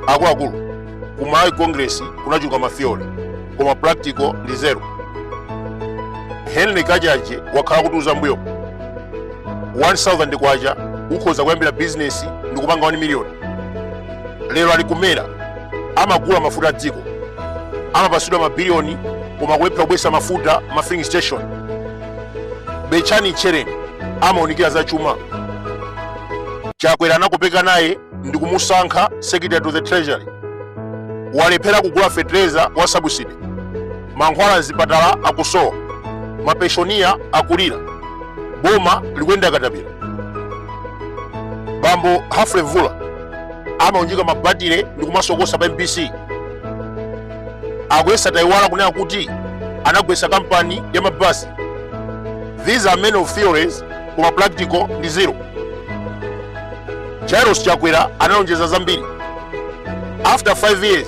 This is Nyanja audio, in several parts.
akuluakulu ku malawi congress kunachuluka matheory koma practical ndi zero henry kachaje wakhala akutiuza mbuyo 1000 kwacha ukhoza kuyambira bizinesi ndi kupanga 1 miliyoni lero ali ku mera amagula mafuta a dziko amapasidwa mabiliyoni koma kulephera kubwesa mafuta ma filling station betchani tchereni amaunikira za chuma chakwera anakopeka naye ndi kumusankha secretary to the treasury walephera kugula fetereza wa subsidy mankhwala mzipatala akusowa mapenshoniya akulira boma likuyenda katapira bambo humphrey mvula amaunjika mabatire ndi kumasokosa pa mbc akuyesa taiwala kunena kuti anagwesa kampani ya mabasi these are men of theories koma practical ndi zero jairos chakwera analonjeza zambiri after 5 years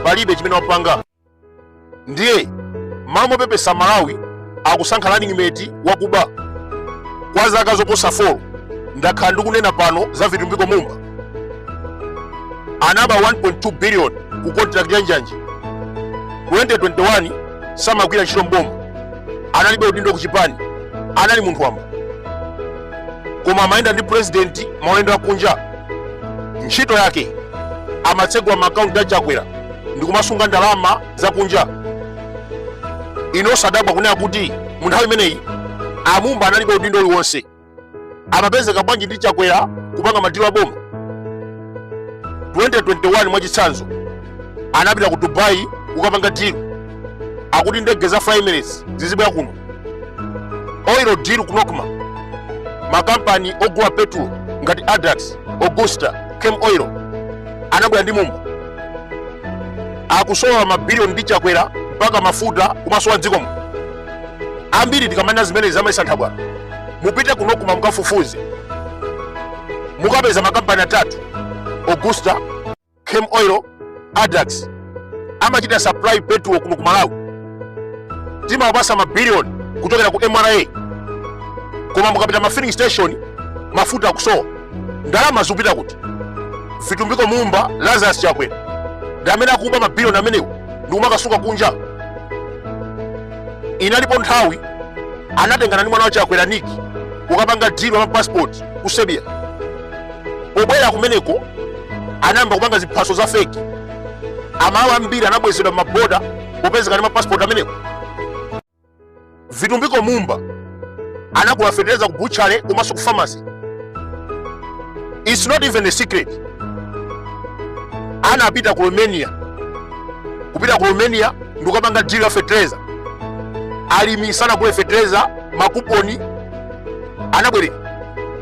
palibe chimene wapanga ndiye m'malo mopepesa amalawi akusankha running mate wakuba kwa zaka zoposa 4 ndakhala ndikunena pano za vitumbiko mumba anaba 1.2 billion ku contract ya njanji 2021 samagwira ntchito mboma analibe udindo ku chipani anali munthu wamba koma amayenda ndi president maulendo akunja ntchito yake amatsegula maakaunti a chakwera ndikumasunga ndalama zakunja inu osadabwa kunena kuti mu nthawi imeneyi a mumba analibe udindo uliwonse amapezeka bwanji ndi chakwera kupanga madilo a boma 2021 mwachitsanzo anapita ku dubai kukapanga dilo yakuti ndege za fly emirates zizibwera kuno oil deal ku nocma makampani ogula petulo ngati addax augusta camel oil anabwera ndi mumba akusowa mabiliyoni ndi chakwera mpaka mafuta kumasowa mdzikomu ambiri tikamanena zimenezi amayesa nthabwala mupite ku nocma mukafufuze mukapeza makampani atatu augusta camel oil addax amachita supply petrol kuno ku malawi timawapasa mabiliyoni kuchokera ku mra koma mukapita ma filling station mafuta akusowa ndalama zikupita kuti vitumbiko mumba lazarus chakwera ndi amene akuba mabiliyoni amenewo ndikumakasunga kunja inalipo nthawi anatengana ndi mwana wa chakwera nick kukapanga dilo ya mapasipoti ku serbia pobwera kumeneko anayamba kupanga ziphaso za feki amalawi ambiri anabwezedwa m'maboda popezeka ndi mapasipoti amenewo vitumbiko mumba anagula fetereza ku butchery komanso ku pharmacy its not even a secret anapita ku romania kupita ku romania ndi kukapanga deal ya fetereza alimi sanagule fetereza makuponi anabwereka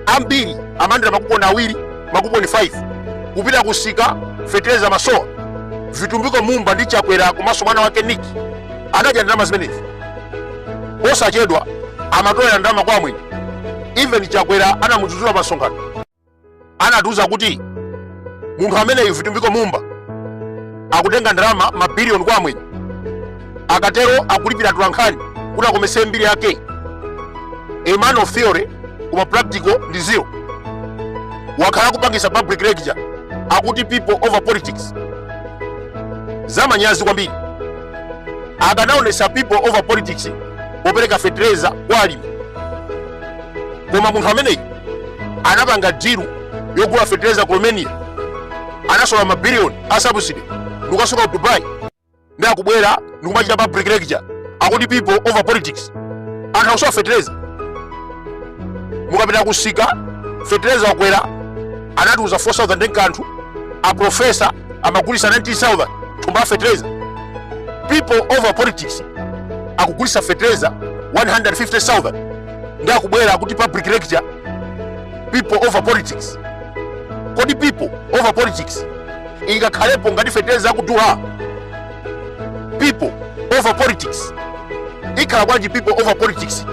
ambiri amalandira makuponi awiri makuponi 5 kupita kumsika fetereza umasowa vitumbiko mumba ndi chakwera komanso mwana wake niki anadya ndalama zimenezi posachedwa amatolera ndalama kwa amwenye even chakwera anamudzudzula pamsonkhano anatiuza kuti munthu ameneyu vitumbiko mumba akutenga ndalama mabiliyoni kwa amwenye akatero akulipira atolankhani kuti akometse mbiri yake a man of theory koma practical ndi zero wakhala akupangitsa public lecture akuti people over politics zamanyazi kwambiri akanaonetsa people over politics popereka fetereza kwa alimi koma munthu ameneyi anapanga dilu yogula fetereza ku romania anasowetsa mabiliyoni a subsidy ndikukasunga ku dubai ndi akubwera ndikumachita public lecture akuti people over politics anthu akusowa fetereza mukapita kumsika fetereza wakwera anatiuza 4000 ndi kanthu aprofesa amagulisa 19000 thumba la fertilizer people over politics akugulisa fertilizer 150000 ndi akubwera kuti public lecture people over politics kodi people over politics ingakhalepo ngati fertilizer akudula people over politics ikhala bwanji people over politics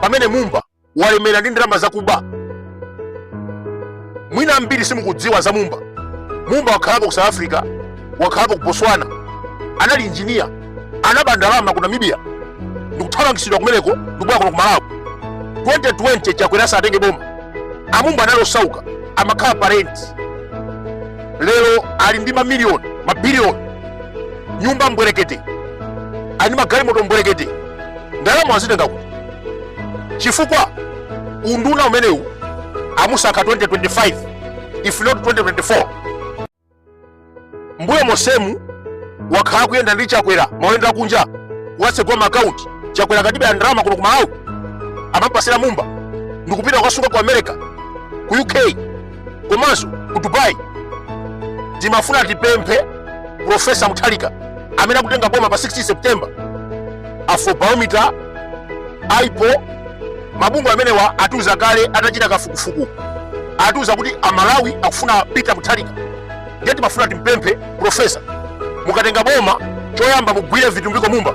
pamene mumba walemera ndi ndalama zakuba mwina ambiri simukudziwa za mumba mumba wakhalako ku south africa wakhalako ku botswana anali injiniya anaba ndalama ku namibia ndikuthamangitsidwa kumeneko ndikubwera kuno ku malawi 2020 chakwera asatenge boma a mumba anali osauka amakhala pa rent lero ali ndi mamiliyoni mabiliyoni nyumba mbwerekete ali ndi magalimoto mbwerekete ndalama wazitenga kuti chifukwa unduna umenewu amusankha 2025 if not 2024 mbuyo mosemu wakhala akuyenda ndi chakwera maulendo akunja watsegula maakaunti chakwera akatibera ndalama kuno ku malawi amampatsira mumba ndikupita kukasunga ku america ku uk komanso ku dubai timafuna tipemphe profesa mutharika amene akutenga boma pa 16 september afrobarometer ipor mabungwe amenewa atiuza kale atachita kafukufuku atiuza kuti amalawi akufuna peter mutharika ndiye timafuna timpemphe profesa mukatenga boma choyamba mugwire vitumbiko mumba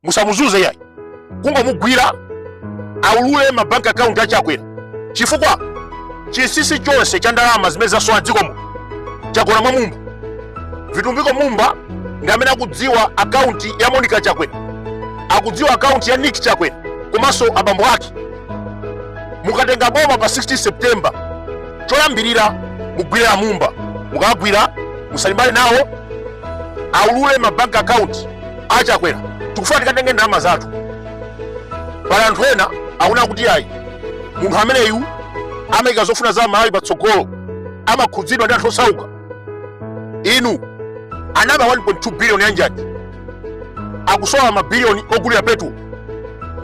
musamuzuze yayi kungomugwira aulule mabank account a chakwera chifukwa chinsinsi chonse cha ndalama zimene zasowa m'dzikomo chagona mwa mumba vitumbiko mumba ndi amene akudziwa akaunti ya monica chakwera akudziwa akaunti ya nick chakwera komanso abambo ake mukatenga boma pa 16 september choyambirira mugwire amumba mukagwira musalimbane nawo aulule mabank account a chakwera tikufuna tikatenge ndalama zathu pali anthu ena akunena kuti ayi munthu ameneyu amayika zofuna za malawi patsogolo amakhudzidwa ndi anthu osauka inu anaba 1.2 biliyoni yanjanji akusowa mabiliyoni ogulira petulo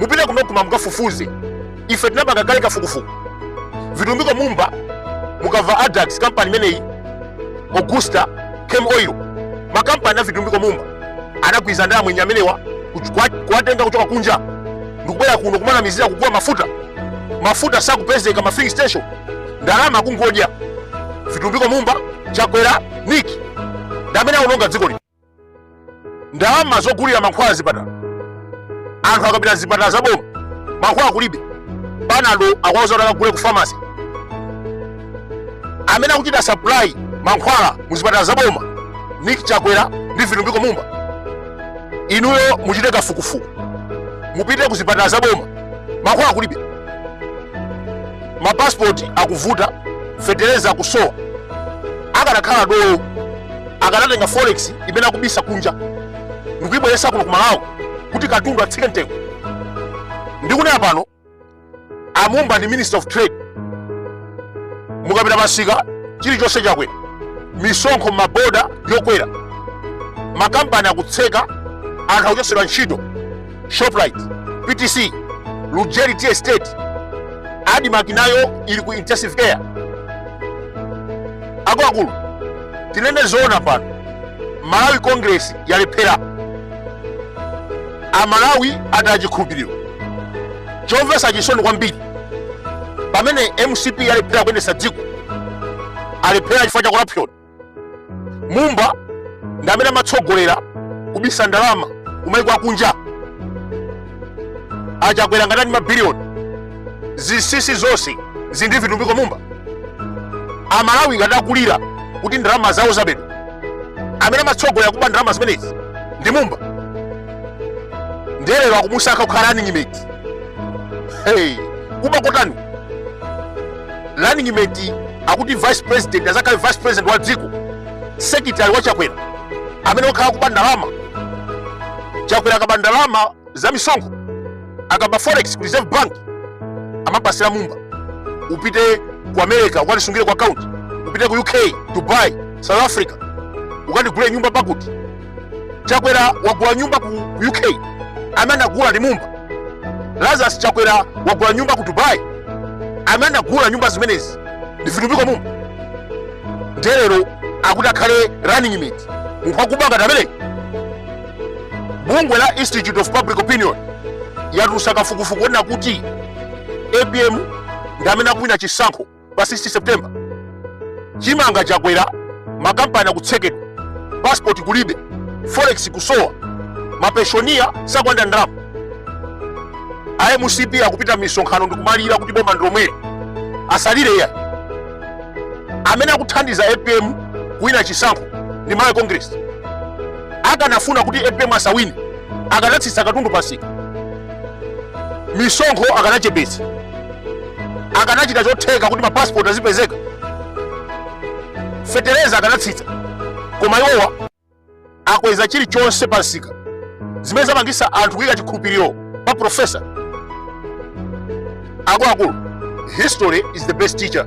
mupite ku nocma mukafufuze ife tinapanga kale kafukufuku vitumbiko mumba mukava adax kampani imeneyi augusta cam oil makampani a vitumbiko mumba anagwirizana ndi amwenye amenewa kuch- kuwa- kuwatenga kuchoka kunja ndikubwera kuno kumanamizira kugula mafuta mafuta sakupezeka m'ma filling station ndalama akungodya vitumbiko mumba chakwera nick ndamene aononga dziko lino ndalama zogulira mankhwala m'zipatala anthu akapita m'zipatala za boma mankhwala kulibe panado akuwauza kuti akagule ku famasi amene akuchita supply mankhwala mu zipatala za boma nick chakwera ndi vitumbiko mumba inuyo muchite kafukufuku mupite ku zipatala za boma mankhwala kulibe mapasipoti akuvuta fetereza akusowa akanakhala dolo akanatenga forex imene akubisa kunja ndikuyibweresa kuno ku malawi kuti katundu atsike mtengo ndikunena pano amumba ndi minister of trade mukapita m'misika chilichonse chakwera misonkho m'maboda yokwera makampani akutseka anthu akuchotsedwa ntchito shoprite ptc lujeri tea estate admarc nayo ili ku intensive care akuluakulu tinene zoona pano malawi congress yalephera amalawi ataya chikhulupiriro chomvetsa chisoni kwambiri pamene mcp yalephera kuyendetsa dziko alephera chifukwa cha corruption mumba ndi amene amatsogolera kubisa ndalama kumaiko akunja achakwera akatenga mabiliyoni zinsisi zonse zili ndi vitumbiko mumba amalawi ngati akulira kuti ndalama zawo zabedwa amene amatsogolera kuba ndalama zimenezi ndi mumba nde lero akumusankha kukhala running mate hey, kuba kotani running mate akuti vice president azakhale vice president wa dziko secretary wa chakwera amene wakhala akuba ndalama chakwera akaba ndalama za misonkho akaba forex ku reserve bank amapasira mumba upite ku america ukandisungire ku account upite ku uk dubai south africa ukandigulire nyumba pakuti chakwera wagula nyumba ku uk amene anagula ndi mumba lazarus chakwera wagula nyumba ku dubai amene anagula nyumba zimenezi ndi vitumbiko mumba nde lero akuti akhale running mate munthu wakuba ngati ameneyi bungwe la institute of public opinion yatulusa kafukufuku onena kuti apm ndi amene akuwina chisankho pa 16 september chimanga chakwera makampani akutsekedwa passport kulibe forex kusowa mapenshoniya sakulandira ndalama a mcp akupita m'misonkhano ndikumalira kuti boma ndilomweri asalire iyayi amene akuthandiza apm kuwina chisankho ndi malawi congress akanafuna kuti apm asawine akanatsitsa katundu pamsika misonkho akanachepetsa akanachita chotheka kuti mapasipoti azipezeka fetereza akanatsitsa koma iwowa akweza chilichonse pa msika zimene zapangisa anthu kuyika chikhulupiriro pa profesa akuluakulu history is the best teacher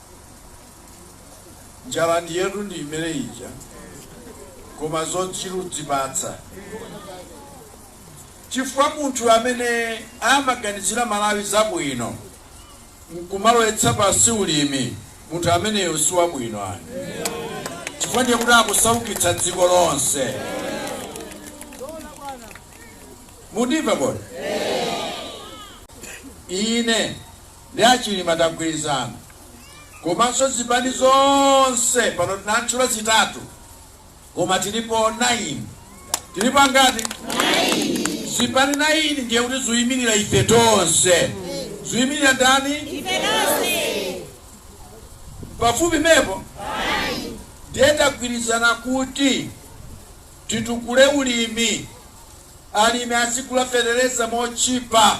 njira yathu ndi imene ija koma yochita kudzipatsa chifukwa munthu amene amaganizira malawi zabwino nkumalowetsa pansi ulimi munthu ameneyo si wabwino ayi chifukwa ndiye kuti akusaukitsa dziko lonse mundimva bwino ine ndi a Chilima tagwirizana komanso zipani zonse pano ndatchula zitatu koma tilipo 9 tilipo angati zipani 9 ndiye kuti ziyimirira ife tonse ziyimirira ndani pafupi pomwepo ndiye tagwirizana kuti titukule ulimi alimi azigula fetereza motchipa